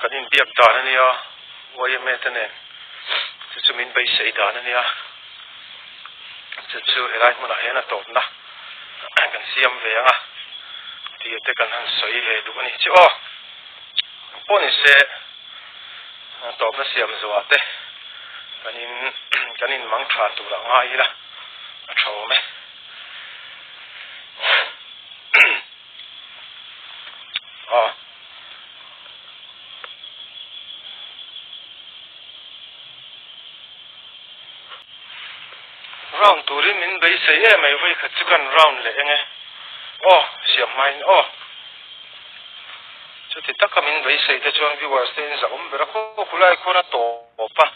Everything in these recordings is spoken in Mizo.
Kan inbiak dan a nia, YMA te nen. Chu chu min beisei dan a nia. Chu chu helai hmunah hian a tawpna kan siam ve ang a, tia te kan han sawi ve duh a ni. Chu aw, ang pawh ni se, tawpna siam zuah te kan in kan inmang tha turah ngai ila a thawm e. Round turin min beisei em mai vawi khat chu kan round leh eng e. Aw, siam hma in aw. Chuti taka min beisei te chuan viewers te in zahawm bera khawk khawk khulai khuana tawp a.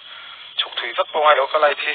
Chhuk thui vek pawngai lo ka light hi.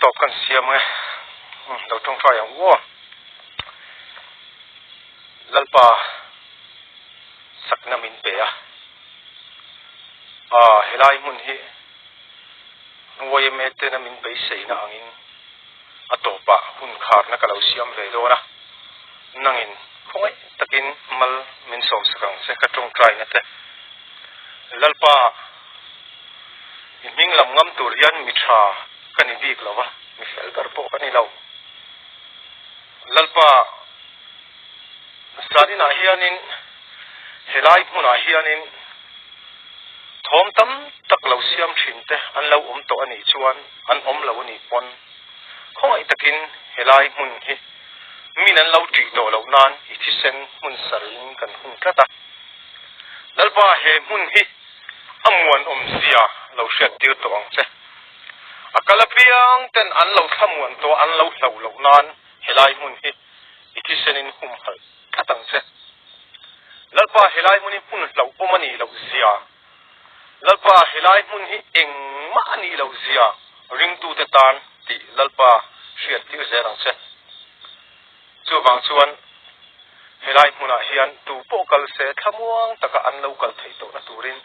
Top kan siam nge lo tawng try ang u aw Lalpa sakna min pe a a helai hmun hi YMA tena min beiseina angin. A tawpa hun kharna ka lo siam ve dawn a, nangin khawngaih takin mal min sawm sak ang che ka tawngtai nate. Lalpa, i hming lam ngam tur hian mi tha ka ni bik lo a, mi fel ber pawh ka ni lo. Lalpa. Zaninah hianin helai hmunah hianin thawm tam tak lo siam thinte an lo awm tawh a nih chuan an awm lo a nih pawn. Khawngaih takin helai hmun hi min an lo ṭih tawh loh nan i thisen hmun sarhin kan hun tlat a. Lalpa he hmun hi a muan awm zia lo hriat tir tawh ang che. A kal apiang ten an lo thla muan tawh an lo hlauh loh nan helai hmun hi i thisen in hum halh tlat ang che. Lalpa helai hmun hi hun hlauh awm a nih loh zia, Lalpa helai hmun hi engmah a nih loh zia ringtute tan tih Lalpa hriattir zel ang che. Chuvang chuan helai hmunah hian tu pawh kal se thlamuang taka an lo kal thei tawhna turin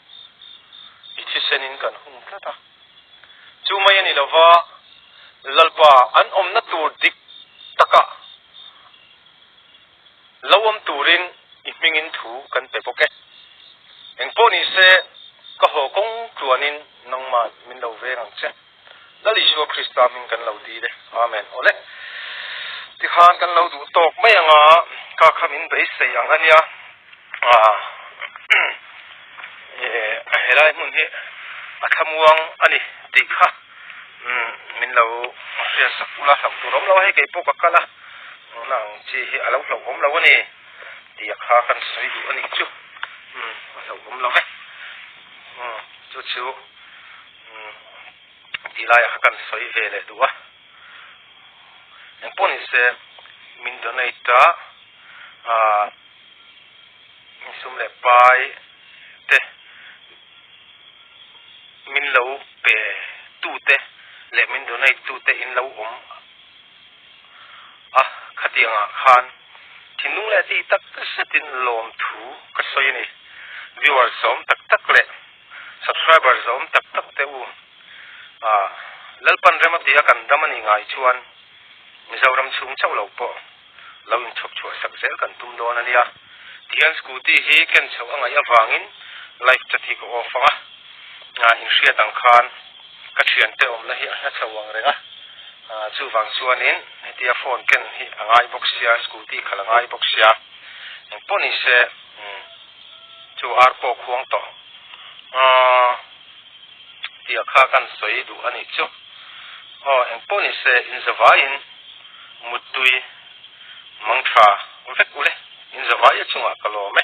i thisen in kan hum tlat a. Chu mai a ni lova, Lalpa an awmna tur dik takah lo awm turin i hmingin thu kan pe bawk e. Eng pawh ni se, ka haw kawng tluanin nangman min lo veng ang che. Lal Isua Krista hming kan lo dil e. Amen. Awle. Tikhan kan lo duh tawk mai anga, ka khamin beisei ang ania. Helai hmun hi a thlamuang a ni tih kha min lo hriat sak bul a, hlauh tur a awm lo a, hei kei pawh ka kal a, tuna ang chi hi a lo hlauh awm lo a ni tih kha ka han sawi duh a nih chu, a hlauh awm lo e, chu chu ti laiah kha ka han sawi ve leh duh a, engpawh ni se min donate a. Misum leh pai te, min lo pe tu te leh min donate tu te in lo awm a khatiang ah khan thinlung leh ti tak zet in lawm thu ka sawi a ni. Viewers zawm tak tak leh subscribers zawm tak tak te u ah Lalpanrema piah a kan dam a nih ngai chuan Mizoram chhung chauh lo pawh, lo inchhawp chhuah sak zel kan tum dawn a nia. Tihian scooty hi ken chhoh a ngaih avangin life chat hi ka off ang a. Aa in hriat ang khan ka thiante awmna hi a hla chho ang reng a. Aa chuvang chuanin hetia phone ken hi a ngai bawk sia, scooty khal a ngai bawk sia. Engpawh nise chu ar pawh khuang tawh. Aa. Tia kha kan sawi duh a nih chu. Aw, eng pawh ni se, inzavaiin muttui mang tha vek u le, inzavai a chungah ka lawm e.